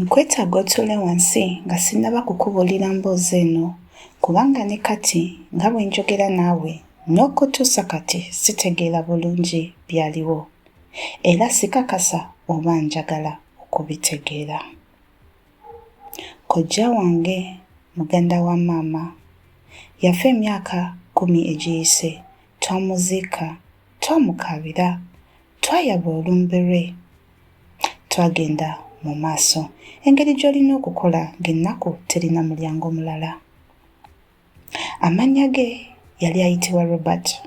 Nkwetaaga otuule wansi nga sinnaba kukubuulira mboozi eno, kubanga ne kati nga bwe njogera naawe n'okutuusa kati sitegeera bulungi byaliwo, era sikakasa oba njagala okubitegeera. Kojja wange, muganda wa maama, yafa emyaka kkumi egiyise. Twamuziika. Twamukaabira. Twayaba olumbe lwe. Twagenda mu maaso. Engeri gy'olina okukola ng'ennaku terina mulyango mulala. Amannya ge yali ayitibwa Robert.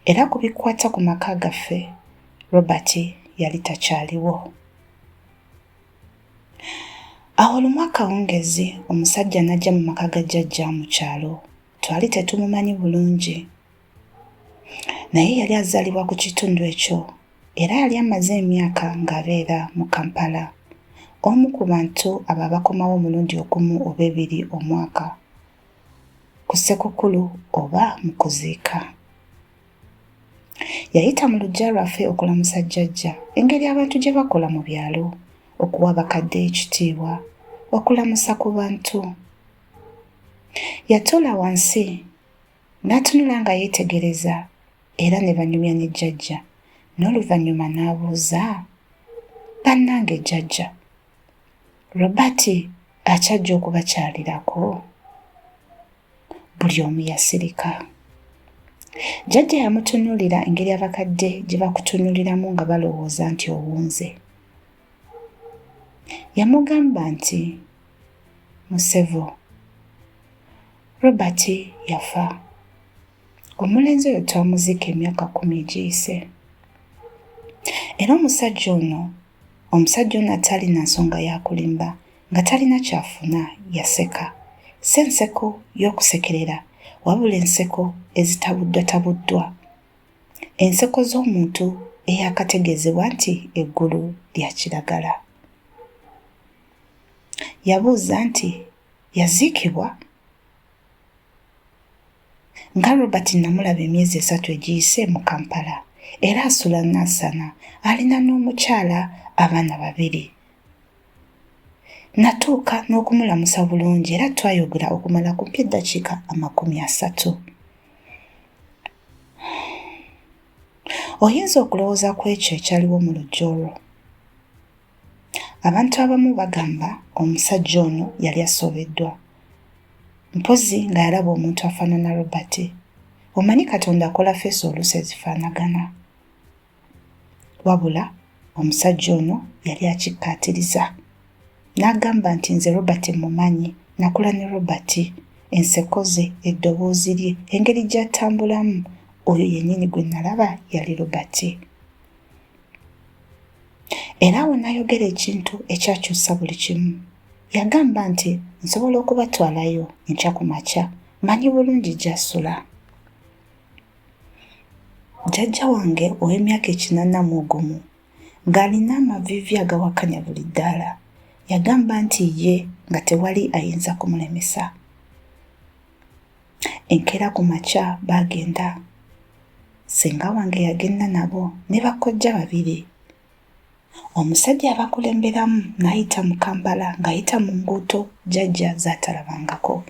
Era ku bikwata ku maka gaffe, Robert yali takyaliwo. Awo lumu akawungeezi omusajja n'ajja mu maka ga jjajja mu kyalo. Twali tetumumanyi bulungi. naye yali azaalibwa ku kitundu ekyo era yali amaze emyaka ng'abeera mu Kampala. Omu ku bantu abo abakomawo omulundi ogumu oba ebiri omwaka ku Ssekukulu oba mu kuziika. Yayita mu luggya lwaffe okulamusa jjajja engeri abantu gye bakola mu byalo okuwa bakadde ekitiibwa okulamusa ku bantu. Yatuula wansi N'atunula nga yeetegereza era ne banyumya ne jjajja n'oluvannyuma n'abuuza bannange jjajja Robert akyajja okubakyalirako buli omu yasirika jjajja yamutunuulira engeri abakadde gye bakutunuuliramu nga balowooza nti owunze yamugamba nti Musevo. Robert yafa. Omulenzi oyo twamuziika emyaka kumi egiyise. Era omusajja ono omusajja ono atalina nsonga yakulimba nga talina kyafuna yaseka si enseko y'okusekerera wabula enseko ezitabuddwatabuddwa enseko z'omuntu eyakategeezebwa nti eggulu lya kiragala Yabuuza nti, Yaziikibwa? Nga Robert nnamulaba emyezi esatu egiyise mu Kampala era asula Nansana, alina n'omukyala, abaana babiri. Nnatuuka n'okumulamusa bulungi era twayogera okumala kumpi eddakiika amakumi asatu. Oyinza okulowooza ku ekyo ekyaliwo mu lujja olwo? Abantu abamu bagamba omusajja ono yali asobeddwa. Mpozzi nga yalaba omuntu afanana Robert. Omanyi Katonda akola feesi oluusi ezifaanagana. Wabula omusajja ono yali akikkaatiriza. N'agamba nti nze Robert mmumanyi, nakula ne Robert. Enseko ze, eddoboozi lye, engeri gy'atambulamu, oyo yennyini gwe nalaba yali Robert. Era awo n'ayogera ekintu ekyakyusa buli kimu. Yagamba nti, Nsobola okubatwalayo enkya ku makya. Mmanyi bulungi gy'asula. Jjajja wange ow'emyaka ekinaana mu ogumu, ng'alina amaviivi agawakanya buli ddaala, yagamba nti ye nga tewali ayinza kumulemesa. enkeera ku makya baagenda senga wange yagenda nabo ne bakkojja babiri omusajja abakulemberamu n'ayita mu kampala ng'ayita mu nguuto jajja zaatalabangako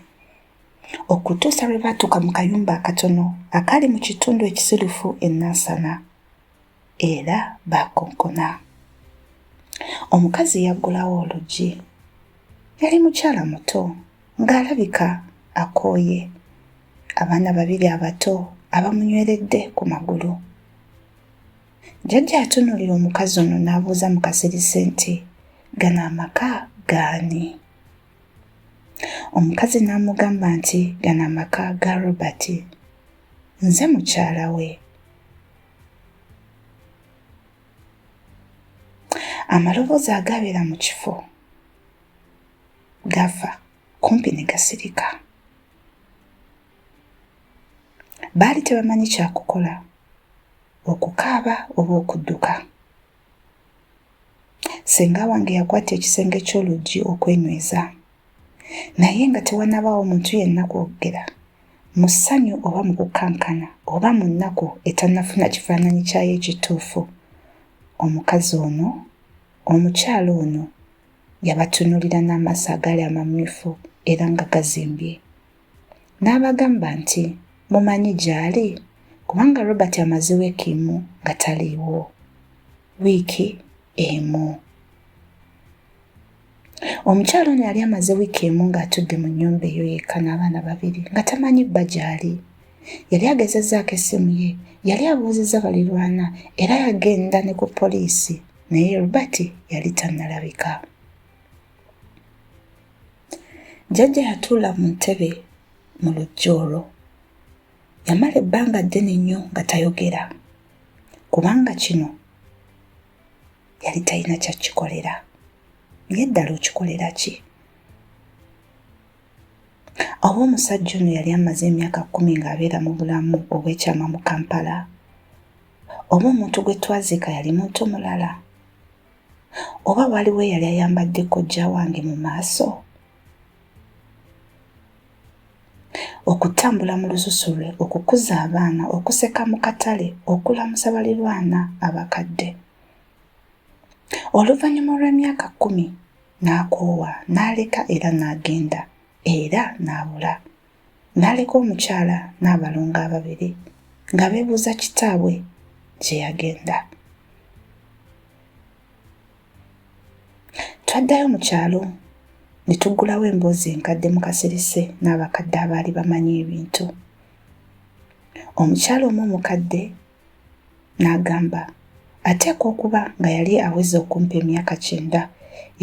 okutuusa lwe baatuuka mu kayumba akatono akaali mu kitundu ekisirufu ennansana era baakonkona. Omukazi yaggulawo oluggi. Yali mukyala muto ng'alabika akooye. Abaana babiri abato abamunyweredde ku magulu. Jjajja atunuulira omukazi ono n'abuuza mu kasirise nti, gano amaka gaani? Omukazi n'amugamba nti, gano amaka ga Robert. Nze mukyala we. amaloboozi agabeera mu kifo gava kumpi ne gasirika baali tebamanyi kyakukola okukaaba oba okudduka Ssenga wange yakwata ekisenge ky'oluggi okwenyweza. Naye nga tewanabaawo muntu yenna kwogera mu ssanyu oba mu kukankana oba mu nnaku etannafuna kifaananyi kyayo ekituufu, omukazi ono, omukyala ono, yabatunuulira n'amaaso agaali amamyufu era nga gazimbye. N'abagamba nti, Mumanyi gy'ali? Kubanga Robert amaze wiiki emu nga taliiwo. Wiiki emu. Omukyala ono yali amaze wiiki emu ng'atudde mu nnyumba eyo yekka n'abaana babiri nga tamanyi bba gy'ali. Yali agezezzaako essimu ye, yali abuuzizza balirwana era yagenda ne ku poliisi naye Robert yali tannalabika. jjajja yatuula mu ntebe mu lujja olwo yamala ebbanga ddene nnyo nga tayogera kubanga kino yali talina kyakikolera naye ddala okikolera ki oba omusajja ono yali amaze emyaka kkumi ng'abeera mu bulamu obw'ekyama mu kampala oba omuntu gwe twaziika yali muntu mulala oba waliwo eyali ayambadde kojja wange mu maaso okutambula mu lususu lwe okukuza abaana okuseka mu katale okulamusa balirwana abakadde oluvannyuma olw'emyaka kkumi n'akoowa n'aleka era n'agenda era n'abula n'aleka omukyala n'abalongo ababiri nga beebuuza kitaabwe gye yagenda. Twaddayo mu kyalo ne tuggulawo emboozi enkadde mu kasirise n'abakadde abaali bamanyi ebintu. Omukyala omu omukadde N'agamba, Ateekwa okuba nga yali aweza okumpi emyaka kyenda.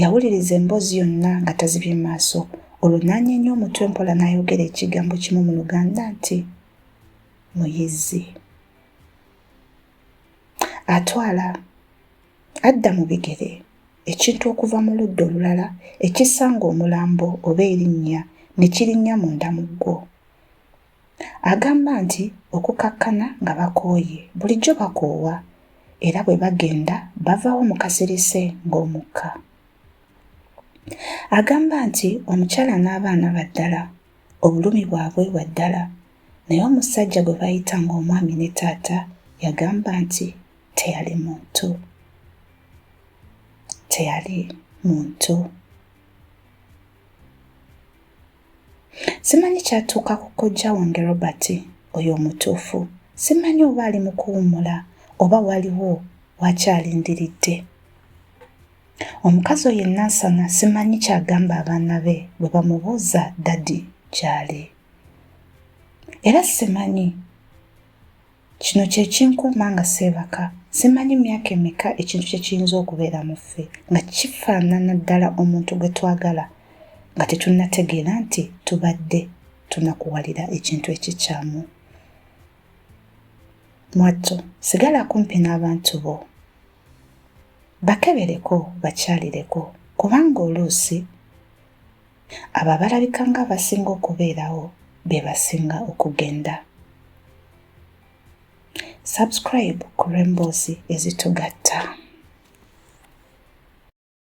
Yawuliriza emboozi yonna nga tazibye maaso, olwo n'anyeenya omutwe mpola n'ayogera ekigambo kimu mu Luganda nti, Muyizzi. Atwala, adda mu bigere, ekintu okuva mu ludda olulala ekisanga omulambo oba erinnya ne kirinnya munda mu ggwo. Agamba nti okukakkana nga bakooye bulijjo bakoowa era bwe bagenda bavaawo mu kasirise ng'omukka. Agamba nti omukyala n'abaana ba ddala, obulumi bwabwe bwa ddala naye omusajja gwe bayita ng'omwami ne taata yagamba nti teyali muntu teyali muntu. Simanyi kyatuuka ku kojja wange Robert oyo omutuufu. Simanyi oba ali mu kuwummula oba waliwo wakyalindiridde. Omukazi oyo enansana simanyi kyagamba abaana be bwe bamubuuza dadi gyali. Era simanyi. Kino kye kinkuuma nga seebaka. Simanyi myaka emeka ekintu kye kiyinza okubeera mu ffe nga kifaanana ddala omuntu gwe twagala nga tetunnategeera nti tubadde tunakuwalira ekintu ekikyamu. Mwattu, sigala kumpi n'abantu bo. Bakebereko, bakyalireko kubanga oluusi. Abo abalabika ng'abasinga okubeerawo be basinga okugenda. Subscribe ku lw'emboozi ezitugatta.